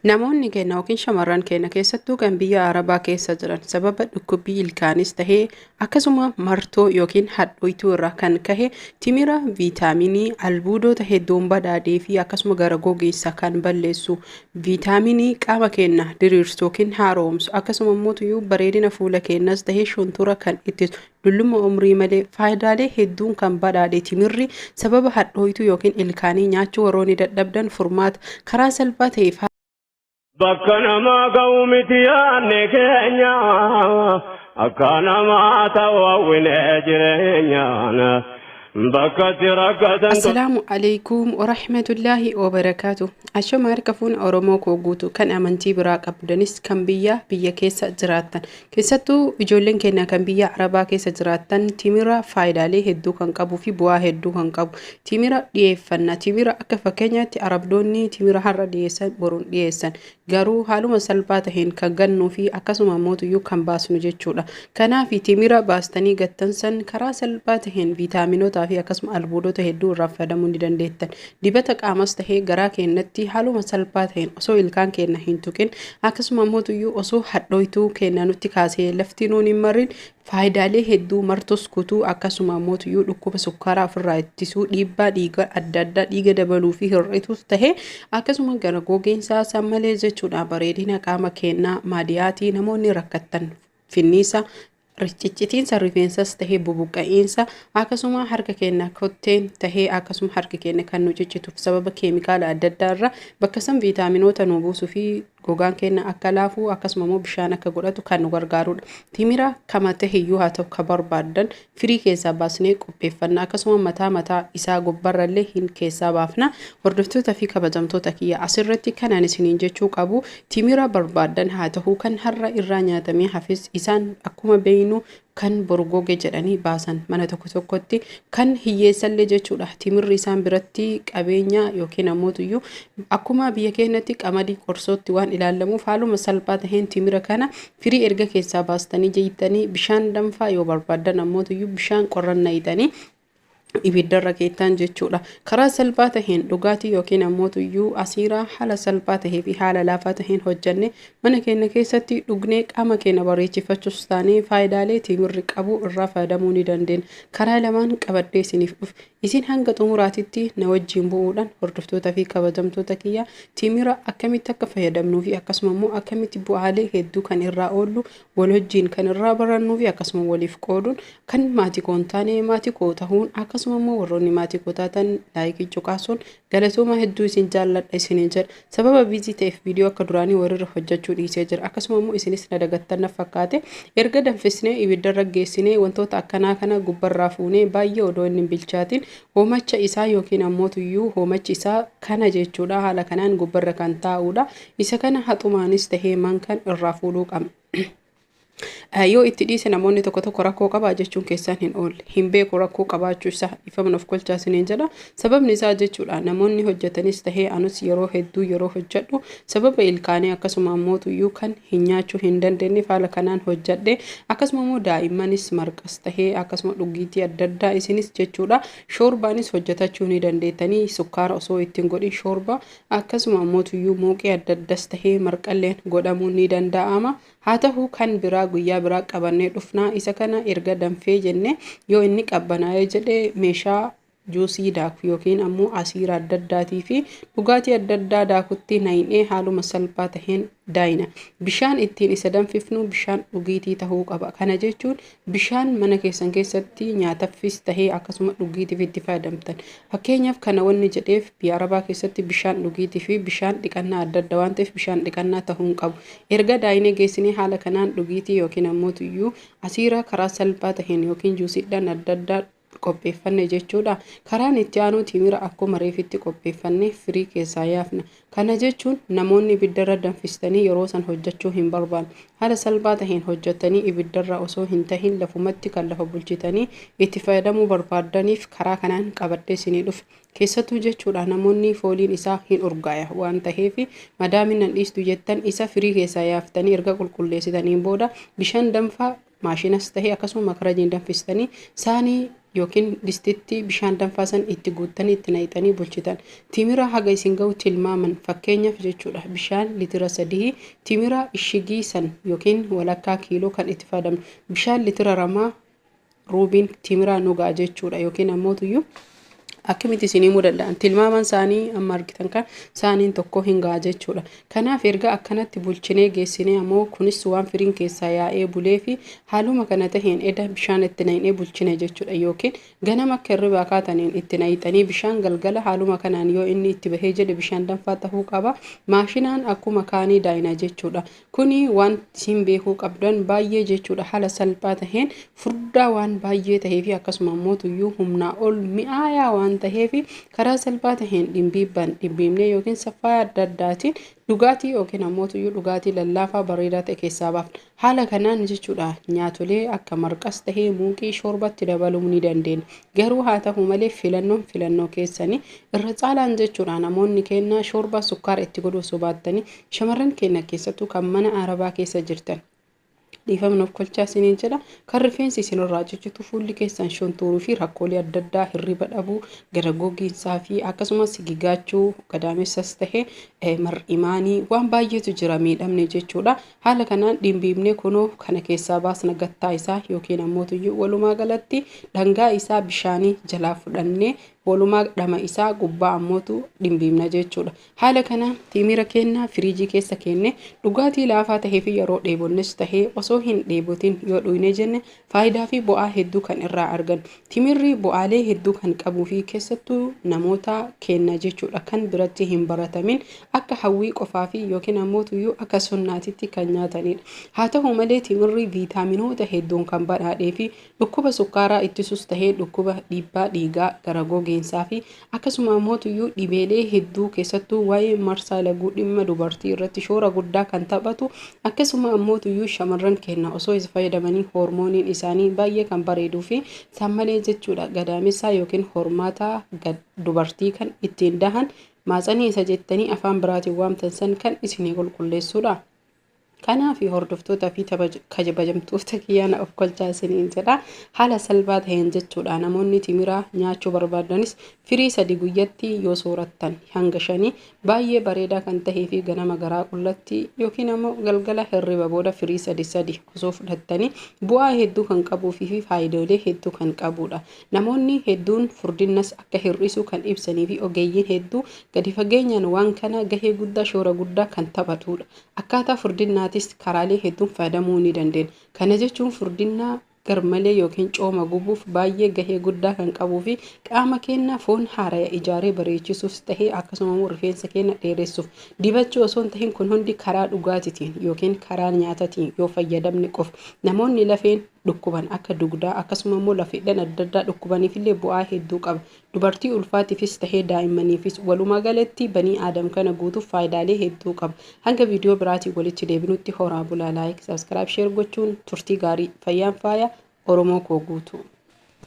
Namoonni keenya yookiin shamarran keenya keessattuu kan biyya Arabaa keessa jiran sababa dhukkubbii ilkaanis tahee akkasuma martoo yookiin hadhooytuu irraa kan kahe timira viitaaminii albuudoota hedduun badhaadhee fi akkasuma gara gogeessa kan balleessu viitaaminii qaama keenya diriirsu yookiin haaromsu akkasuma immoo bareedina fuula keenyas tahee shuntura kan ittisu Dullumma umrii malee faayidaalee hedduun kan badhaadhe timirri sababa hadhooytuu yookiin ilkaanii nyaachuu warroonni dadhabdan furmaata karaa salphaa ta'eef Bakka namaa ga'u miti yaadne keenya akka namaa ta'u hawwine jireenyaan bakka si rakkatan Assalaamu alaikum warahmatullaahi wabarakaatu. Ashama harka fuuna Oromoo koo guutu kan amantii biraa qabdanis kan biyyaa biyya keessa jiraattan Keessattuu ijoolleen keenya kan biyya Arabaa keessa jiraattan timira faayidaalee hedduu kan qabuu fi bu'aa hedduu kan qabu. Timira dhiyeeffanna. Timira akka fakkeenyaatti Arabdoonni timira har'a dhiyeessan boruun dhiyeessan. Garuu haaluma salphaa taheen kan gannuu fi akkasuma mootuyyuu kan baasnu jechuudha. Kanaaf timira baastanii gattan san karaa salphaa taheen viitaaminotaa fi akkasuma albuudota hedduu irraa fayyadamuu ni dandeettan. Dibata qaamas tahee garaa keennatti haaluma salpaa taheen osoo ilkaan keenna hin tuqin akkasuma mootuyyuu osoo hadhooytuu keenna nutti kaasee lafti nuun hin marrin faayidaalee hedduu martus kutuu akkasuma mootuyyuu dhukkuba sukkaaraa ofirraa ittisuu dhiibbaa dhiiga adda addaa dhiiga dabaluu fi hir'ituus tahee akkasuma gara gogiinsaa sammalee jechuudha bareedina qaama keennaa maadiyaatii namoonni rakkattan finniisa Ciccitiinsa rifeensas tahee bubuqqa'iinsa akkasuma harka keenya kotteen tahee akkasuma harki keenya kan nu ciccituuf sababa keemikaala adda addaa irra bakka san viitaaminoota nu buusuu fi gogaan keenya akka laafuu akkasuma immoo bishaan akka godhatu kan nu gargaarudha. Timira kama taheyyuu haa ta'u ka barbaaddan firii keessaa baasnee qopheeffanna akkasuma mataa mataa isaa gobbarra illee hin keessaa baafna. Hordoftoota fi kabajamtoota kiyya asirratti kanaan isiniin jechuu qabu Timira barbaadan haa tahu kan har'a irraa nyaatamee hafes isaan akkuma beeynu kan boru goge jedhanii baasan mana tokko tokkotti kan hiyyeessallee jechuudha timirri isaan biratti qabeenya yookiin ammootuyyuu akkuma biyya keenyatti qamadii qorsootti waan ilaallamuuf haaluma salphaa taheen timira kana firii erga keessaa baastanii jeeytanii bishaan danfaa yoo barbaadan ammootuyyuu bishaan qorran nayxanii ibiddarra keettaan jechuudha. Karaa salphaa taheen dhugaatii yookiin ammoo tuyyuu asiiraa haala salphaa tahee fi haala laafaa taheen hojjannee mana keenya keessatti dhugnee qaama keenya bareechifachuus taanee faayidaalee timirri qabu irraa fayyadamuu ni dandeenya. Karaa lamaan qabadhee isiniif dhufe. Isin hanga xumuraatitti na wajjin bu'uudhaan hordoftoota fi kabajamtoota kiyyaa timira akkamitti akka fayyadamnuu fi akkasuma immoo akkamitti bu'aalee hedduu kan irraa oollu Wal wajjiin kan irraa barannuu fi akkasuma waliif qooduun kan maatii koo hin taane maatii koo tahuun akkasuma immoo warroonni maatii koo taatan laayikii cuqaasuun galatooma hedduu isin jaalladha isiniin jedha sababa biizii ta'eef viidiyoo akka duraanii walirra hojjechuu dhiisee jira akkasuma immoo isinis na dagattan na fakkaate erga danfisnee ibiddarra geessinee wantoota akkanaa kana gubbarraa fuunee baay'ee odoo inni hin bilchaatiin hoomacha isaa yookiin ammoo tuyyuu hoomachi isaa kana jechuudha haala kanaan gubbarra kan taa'uudha Isa kana haxumaanis tahee mankan irraa fuudhuu qabna. Yoo itti dhiise namoonni tokko tokko rakkoo qabaa jechuun keessaan hin oolle. Hin beeku rakkoo qabaachuu isaa ifamna of kolchaa isiniin jedha. Sababni isaa jechuudha namoonni hojjetanis tahee anus yeroo hedduu yeroo hojjedhu sababa ilkaanii akkasuma ammootuyyuu kan hin nyaachuu hin dandeenye haala kanaan hojjedhe. Akkasuma immoo daa'immanis marqas tahee akkasuma dhugiitii adda addaa isinis jechuudha. Shoorbaanis hojjetachuu ni dandeettanii sukkaara osoo ittiin godhin shoorba Akkasuma ammoo tuyyuu muuqii adda addas tahee marqalleen godhamuun ni danda'ama. Haa tahu kan biraa guyyaa biraa qabannee dhufna. Isa kana erga danfee jenne yoo inni qabbanaa'ee jedhe meeshaa juusii daaku yookiin ammoo asiira adda addaatii fi dhugaatii adda addaa daakutti nayinee haaluma salphaa taheen daayina. Bishaan ittiin isa danfifnu bishaan dhugiitii tahuu qaba. Kana jechuun Bishaan mana keessan keessatti nyaataffis tahee akkasuma dhugiitiif itti fayyadamtan. Fakkeenyaaf kana wanni jedheef biyya Arabaa keessatti bishaan dhugiitii fi bishaan dhiqannaa adda adda waan ta'eef bishaan dhiqannaa tahuu hin qabu. Erga daayinee geessinee haala kanaan dhugiitii yookiin ammootuyyuu asiira karaa salphaa taheen yookiin juusiidhaan adda addaa qopheeffanne jechuudha. Karaan itti aanuu timira akkuma reefitti qopheeffanne firii keessaa yaafna. Kana jechuun namoonni ibiddarra danfistanii yeroo san hojjachuu hin barbaanne. Haala salphaa taheen hojjattanii ibiddarra osoo hin tahin lafumatti kan lafa bulchitanii itti fayyadamuu barbaaddaniif karaa kanaan qabadhee isinii dhufe. Keessattuu jechuudha namoonni fooliin isaa hin urgaaya waan taheef madaamiin nan dhiistu jettan isa firii keessaa yaaftanii erga qulqulleessitaniin booda bishaan danfaa Maashinas tahe akkasuma makarajiin danfistanii saanii ykn distitti bishaan danfaa san itti guuttanii itti naqxanii bulchitan. Timira haga isin gahu tilmaaman fakkeenyaf jechuudha bishaan litira sadihii timira ishigii san ykn walakkaa kiiloo kan itti faadamnu bishaan litira ramaa ruubiin timiraa nu ga'a jechuudha ykn ammootuyyuu akkamitti isin himuu danda'an tilmaamaan isaanii amma argitan kan isaaniin tokko hin ga'a jechuudha kanaaf erga akkanatti bulchinee geessinee ammoo kunis waan firiin keessaa yaa'ee bulee fi haaluma kana taheen eda bishaan itti naqnee bulchine jechuudha yookiin ganama akka hirribaa kaataniin itti naqxanii bishaan galgala haaluma kanaan yoo inni itti bahee jedhe bishaan danfaa tahuu qaba maashinaan akkuma kaanii daayina jechuudha Kuni waan isiin beekuu qabdan baay'ee jechuudha haala salphaa taheen furdaa waan baay'ee taheefi akkasuma immoo tuyyuu humnaa ol mi'aayaa waan taheefi karaa salphaa taheen dhimbiibban dhimbiibnee yookiin saffaa adda addaatiin dhugaatii yookiin ammoo tuyyuu dhugaatii lallaafaa bareedaa ta'e keessaa baafna. Haala kanaan jechuudha nyaatolee akka marqas tahee muuqii shoorbatti dabaluu ni dandeenya. Garuu haa tahu malee filannoon filannoo keessanii irra caalaan jechuudha namoonni kennaa shoorbaa sukkaara itti godhuu osoo baattanii Shamarran keenna keessattuu kan mana Arabaa keessa jirtan dhiifama nuuf kolchaa isiniin jedha. Kan rifeensi isinirraa cichitu fuulli keessan shuntuuruu fi rakkoolee adda addaa hirriba dhabuu, gara gogiinsaa fi akkasumas sigigaachuu gadaamessas ta'e mar'imaanii waan baay'eetu jira miidhamni jechuudha. Haala kanaan dhimbiibnee kunoo kana keessaa baasna gattaa isaa yookiin ammoo tuyyuu walumaa galatti dhangaa isaa bishaanii jalaa fudhannee walumaa dhama isaa gubbaa ammootu dhimbiibna jechuudha. Haala kanaan tiimira keenna firiijii keessa keenne dhugaatii laafaa tahee fi yeroo dheebonnes tahee osoo hin dheebotin yoo dhuynee jenne faayidaa fi bu'aa hedduu kan irraa argannu. Timirri bu'aalee hedduu kan qabuu fi keessattuu namoota keenna jechuudha kan biratti hin baratamin akka hawwii qofaa fi yookiin ammoo tuyyuu akka sunnaatitti kan nyaataniidha. Haa tahu malee timirri viitaaminoota hedduun kan badhaadhee fi dhukkuba sukkaaraa ittisus tahee dhukkuba dhiibbaa dhiigaa, gara gogiinsaa fi Akkasuma ammoo tuyyuu dhibeelee hedduu keessattuu waa'ee marsaa laguu dhimma dubartii irratti shoora guddaa kan taphatu akkasuma ammoo tuyyuu shamarran keenya osoo isa fayyadamanii hoormooniin isaanii baay'ee kan bareeduu fi sammalee jechuudha gadaamessaa yookiin hormaataa dubartii kan ittiin dahan maatsanii isa jettanii afaan biraatiin waamtan san kan isinii qulqulleessuudha. Kanaafi hordoftoota fi kabajamtoota kiyyaa na ofkolchaa isiniin jedha. Haala salphaa ta'een jechuudha namoonni timira nyaachuu barbaadanis firii sadi guyyatti yoo soorattan hanga shanii baay'ee bareedaa kan ta'ee fi ganama garaa qullatti yookiin ammoo galgala hirriba booda firii sadi sadi osoo fudhattanii bu'aa hedduu kan qabuufii fi faayidoolee hedduu kan qabuudha. Namoonni hedduun furdinnas akka hir'isu kan ibsanii fi ogeeyyiin hedduu gadi fageenyaan waan kana gahee guddaa shoora guddaa kan taphatuudha. Akkaataa furdinnaatiis karaalee hedduun fayyadamuu ni dandeenya. Kana jechuun furdinnaa garmalee yookiin cooma gubuuf baay'ee gahee guddaa kan qabuu fi qaama keenya foon haaraya ijaaree bareechisuufs ta'ee akkasuma immoo rifeensa keenya dheeressuuf dibachuu osoo hin tahin kun hundi karaa dhugaatitiin yookiin karaa nyaatatiin yoo fayyadamne qofa namoonni lafeen dhukkuban akka dugdaa akkasuma immoo lafeedhan adda addaa dhukkubaniif illee bu'aa hedduu qaba Dubartii ulfaatifis tahee daa'immaniifis, walumaa galatti banii aadam kana guutuuf faayidaalee hedduu qaba. Hanga viidiyoo biraatiin walitti deebinutti horaa bulaa like, subscribe, share gochuun turtii gaarii. Fayyaan faaya Oromoo koo guutuu.